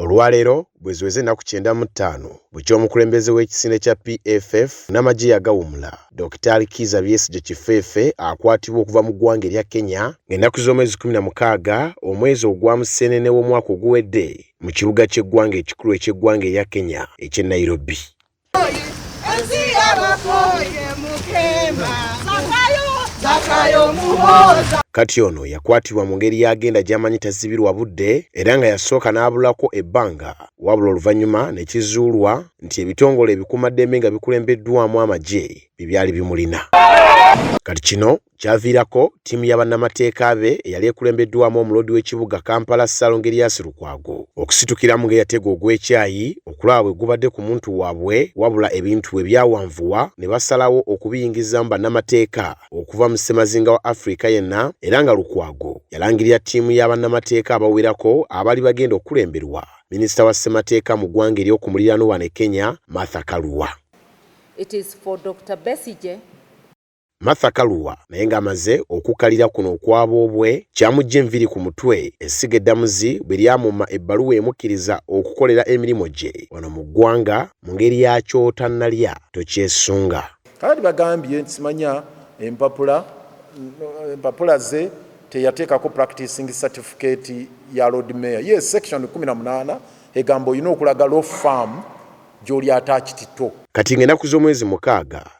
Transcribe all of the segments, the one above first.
Olwaleero bweziweze ennaku kyenda mu ttaano bukya omukulembeze w'ekisinde kya PFF namagye yagawumula Dokitaali Kiiza Byesigye Kifeefe akwatibwa okuva mu ggwanga erya Kenya ng'ennaku z'omwezi kkumi na mukaaga omwezi ogwa Museenene w'omwaka oguwedde mu kibuga ky'eggwanga ekikulu eky'eggwanga erya Kenya eky'e Nairobi. kati ono yakwatibwa mu ngeri y'agenda gy'amanyi tazibirwa budde era nga yasooka n'abulako ebbanga wabula oluvannyuma ne kizuulwa nti ebitongole ebikuumaddembe nga bikulembeddwamu amagye bye byali bimulina kati kino Kyaviirako ttiimu ya bannamateeka be eyali ekulembeddwamu omuloodi w'ekibuga Kampala Ssalongo Erias Lukwago okusitukiramu ng'eyategwa ogw'ekyayi okulaba bwe gubadde ku muntu waabwe wabula ebintu bwe byawanvuwa ne basalawo okubiyingizaamu bannamateeka okuva mu ssemazinga wa Afrika yenna era nga Lukwago yalangirira ttiimu ya bannamateeka abawerako abali bagenda okukulemberwa minisita wa ssemateeka mu ggwanga ery'oku muliraano wano e Kenya Martha Karua. It is for Dr. Besigye. Martha Kaluwa naye ng'amaze okukkalira kuno okwaboobwe kyamujja enviri ku mutwe essiga eddamuzi bwe lyamumma ebbaluwa emukkiriza okukolera emirimu gye wano mu ggwanga mu ngeri ya kyotannalya tokyesunga. Kakati bagambye nti simanya empapula empapula ze teyateekako practicing certificate ya Lord Mayor. Ye section 18 egamba olina okulaga law firm gy'oli ataakitito. Kati ng'ennaku z'omwezi mukaaga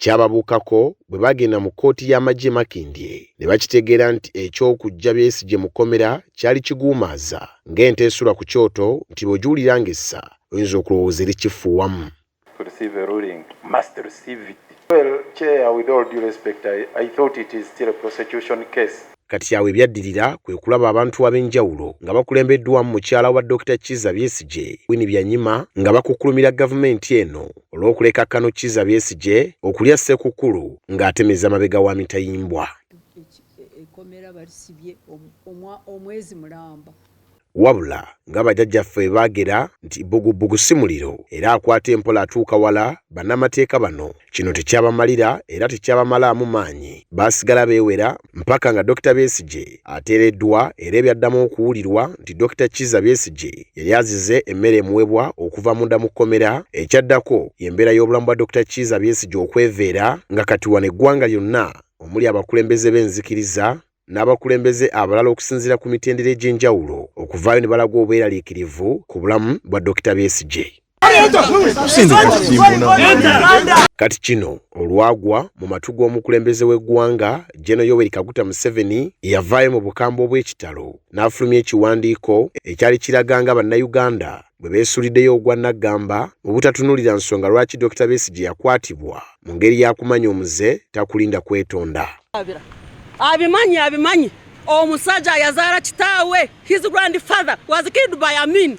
Kyababuukako bwe baagenda mu kkooti y'amagye e Makindye ne bakitegeera nti eky'okuggya Besigye mu kkomera kyali kiguumaaza ng'ente esula ku kyoto nti bw'ogiwulira ng'essa oyinza okulowooza eri kifuuwamu. to receive a ruling must receive it. Well chair with all due respect I, I thought it is still a prosecution case. Kati awo ebyaddirira kwe kulaba abantu ab'enjawulo nga bakulembeddwamu mukyala wa Dokita Kizza Besigye, Winnie Byanyima nga bakukkulumira gavumenti eno olw'okuleka Kano Kizza Besigye okulya Ssekukkulu ng'atemeza mabega wa mitayimbwa. Wabula nga bajajjaffe baagera nti bbugubugu si muliro era akwata empola atuuka wala, bannamateeka bano kino tekyabamalira era tekyabamalaamu maanyi baasigala beewera mpaka nga Dokita Besigye ateereddwa era ebyaddamu okuwulirwa nti Dokita Kizza Besigye yali azize emmere emuwebwa okuva munda mu kkomera. Ekyaddako y'embeera y'obulamu bwa Dokita Kiiza Besigye okweveera nga kati wano eggwanga lyonna omuli abakulembeze b'enzikiriza, n'abakulembeze abalala okusinziira ku mitendera egy'enjawulo okuvaayo ne balaga obweraliikirivu ku bulamu bwa Dokita Besigye. Kati kino olwagwa mu matu g'omukulembeze w'eggwanga Gen. Yoweri Kaguta Museveni eyavaayo mu bukambwe obw'ekitalo n'afulumya ekiwandiiko ekyali kiraga nga Bannayuganda bwe beesulideyo ogwa naggamba mu butatunulira nsonga lwaki Dokita Besigye yakwatibwa mu ngeri yakumanya omuze takulinda kwetonda abimanyi abimanyi omusajja yazaala kitaawe his grandfather was killed by amin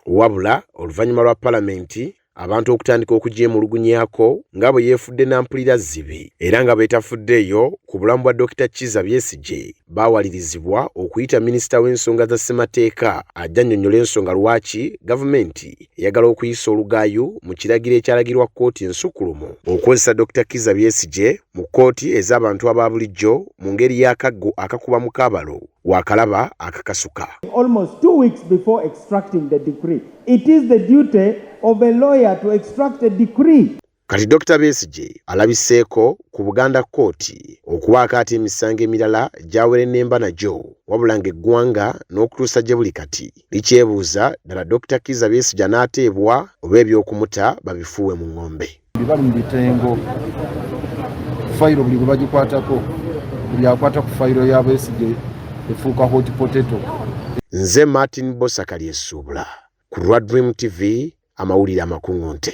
wabula oluvannyuma lwa palamenti abantu okutandika okugyemulugunyako nga bwe yeefudde nampulira zzibi era nga beetafuddeeyo ku bulamu bwa Dokita Kiza Byesigye baawalirizibwa okuyita minisita w'ensonga za ssemateeka ajja nnyonnyola ensonga lwaki gavumenti eyagala okuyisa olugaayu mu kiragiro ekyalagirwa kkooti ensukulumu okukozesa Dokita Kiza Byesigye mu kkooti ez'abantu aba bulijjo mu ngeri y'akaggo akakuba mu kaabalo waakalaba akakasuka. It is the duty of a lawyer to extract a decree. Kati Dr Besigye alabiseeko ku Buganda kkooti okubaako ati emisango emirala gy'awerennemba nagyo wabula ng'eggwanga n'okutuusa gye buli kati likyebuuza ddala Dr Kiiza Besigye anaateebwa oba eby'okumuta babifuuwe mu ng'ombe. bali mu bitengo fayiro buli bwe bagikwatako buli akwata ku fayiro ya Besigye efuuka hot potato nze Martin Bosakali Essuubula ku lwa Dream TV amawulire amakuŋŋunte